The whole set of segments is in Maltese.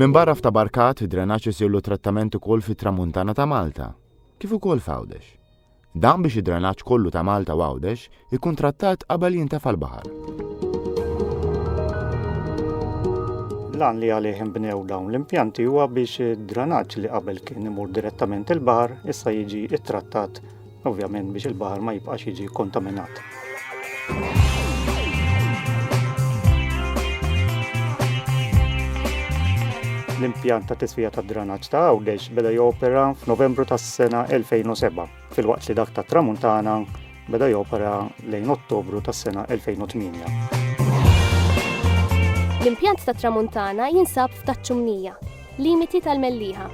Minn barra f'ta' barkat, drenaċ isirlu trattament ukoll fit-tramuntana ta' Malta, kif ukoll f'Għawdex. Dan biex id-drenaġġ kollu ta' Malta u Għawdex ikun trattat qabel jintefa' l-baħar. L-għan li għalih inbnew dawn l-impjanti huwa biex id-dranaġġ li qabel kien imur direttament il-baħar issa jiġi ittrattat ovvjament biex il-baħar ma jibqax jiġi kontaminat. l-impjant ta' tisfija ta' dranaġġ ta' Għawdex beda jopera f'Novembru tas-sena 2007, filwaqt li dak ta' Tramuntana beda jopera lejn Ottobru tas-sena 2008. L-impjant ta' Tramuntana jinsab f'Taċċumnija, limiti tal-Melliħa.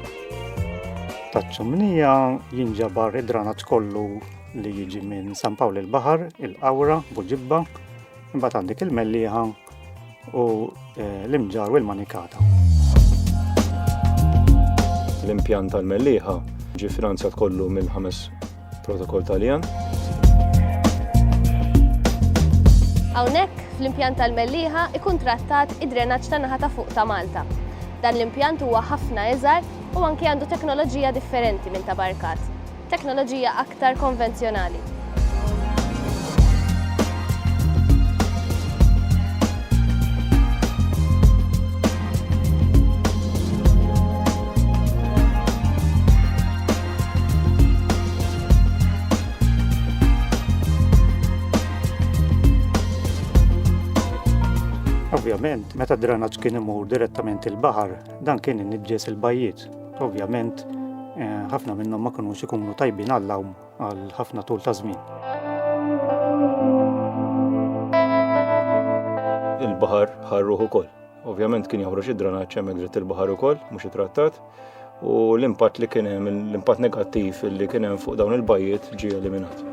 Taċċumnija jinġabar id-dranaġġ kollu li jiġi minn San Pawl il-Baħar, il-Qawra, Buġibba, imbagħad għandek il-Mellieħa u eh, l-Imġar u l-Manikata. L-impjant tal-Mellieħa ġi finanzjat kollu mill-ħames protokoll Taljan. Hawnhekk fl-impjant tal-Mellieħa ikun trattat id-drenaġġ ta' naħa ta' fuq ta' Malta. Dan l-impjant huwa ħafna eżar u anke għandu teknoloġija differenti minn ta' barkat. teknoloġija aktar konvenzjonali. Ovvjament, meta d-dranaġġ kien imur direttament il-baħar, dan kien iniġġes il-bajjiet. Ovvjament, eh, ħafna minnhom ma kinux ikunu tajbin għall-lawm għal ħafna tul ta' żmien. Il-baħar ħarruh ukoll. Ovvjament kien joħroġ id-dranaċċ hemmhekk dritt il-baħar ukoll, mhux ittrattat, u l-impatt li kien hemm, l-impatt negattiv li kien hemm fuq dawn il-bajjiet ġie eliminat.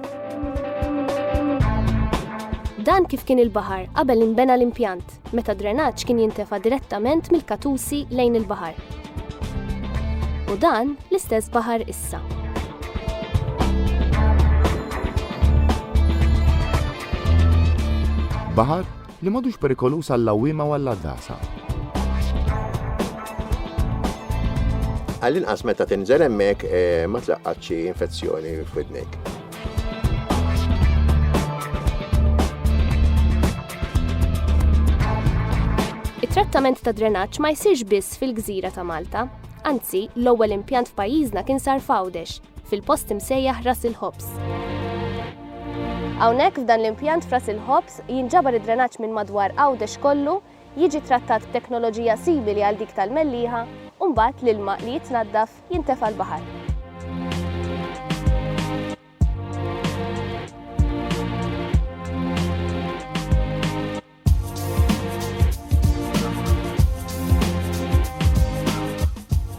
Dan kif kien il-baħar qabel inbena l-impjant. meta d-drenaġġ kien jintefa' direttament mill-Katusi lejn il-baħar. U dan l-istess baħar issa. Baħar li madux perikolus għall-lawima u għall-għaddasa. Għall-inqas meta tinżel hemmhekk eh, ma tlaqqatx infezzjoni f'widnek. It-trattament ta' drenaġġ ma jsirx biss fil-gżira ta' Malta. Anzi, l-ewwel impjant f'pajjiżna kien sar f'Għawdex, fil-post imsejjaħ Ras il-Ħobs. Hawnhekk f'dan l-impjant f'Ras il-Ħobs jinġabar id-drenaġġ minn madwar Għawdex kollu, jiġi trattat b'teknoloġija simili għal dik tal-melliħa, u mbagħad l-ilma li jitnaddaf jintefa' l-baħar.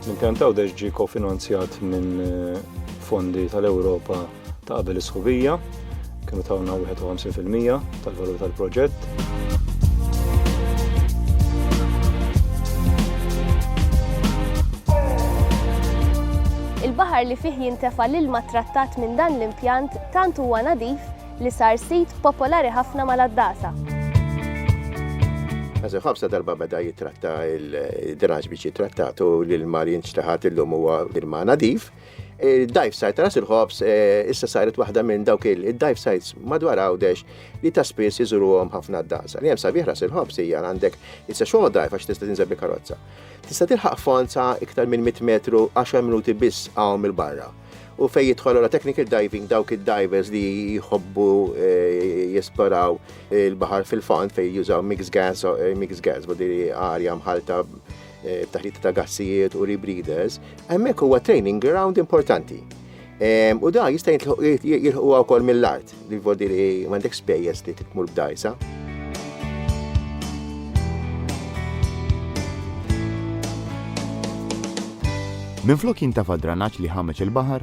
L-impjantaw deġ ġie kofinanzjat minn eh, fondi tal-Ewropa ta' qabel is-sħubija kienu tawna 51% tal-valur tal-proġett. Il-baħar li fih jintefa l-ilma trattat minn dan l-impjant tant huwa nadif li sar sit popolari ħafna mal-addasa. Għazin ħabsa darba beda jitratta il-draġ biex jitrattatu l-ilma li jinċtaħat il-lum huwa ilma nadif. Il-dive site ta' Ras il-Ħobs eh, issa saret waħda minn dawk il-dive sites madwar Għawdex li ta' spiss iżuruhom ħafna d-dansa. Li hemm sabiħ Ras il-Ħobs hija għandek issa xogħol dive għax tista' tinżel bil-karozza. Tista' tilħaq fond sa' iktar minn 100 metru 10 minuti biss hawn mill-barra. U fej jidħol la technical diving dawk id-divers li jħobbu eh, jesploraw il-baħar fil-fond fej jużaw mix gas, eh, mix gas, bodi arja mħalta Eh, taħlita ta' gassijiet u rebreeders, hemmhekk huwa training ground importanti. U da jista' jilħu wkoll mill-art, li vodi li m'għandek spejjeż li titmur b'dajsa. Minflok jintafa' dranaġġ li ħameġ il-baħar,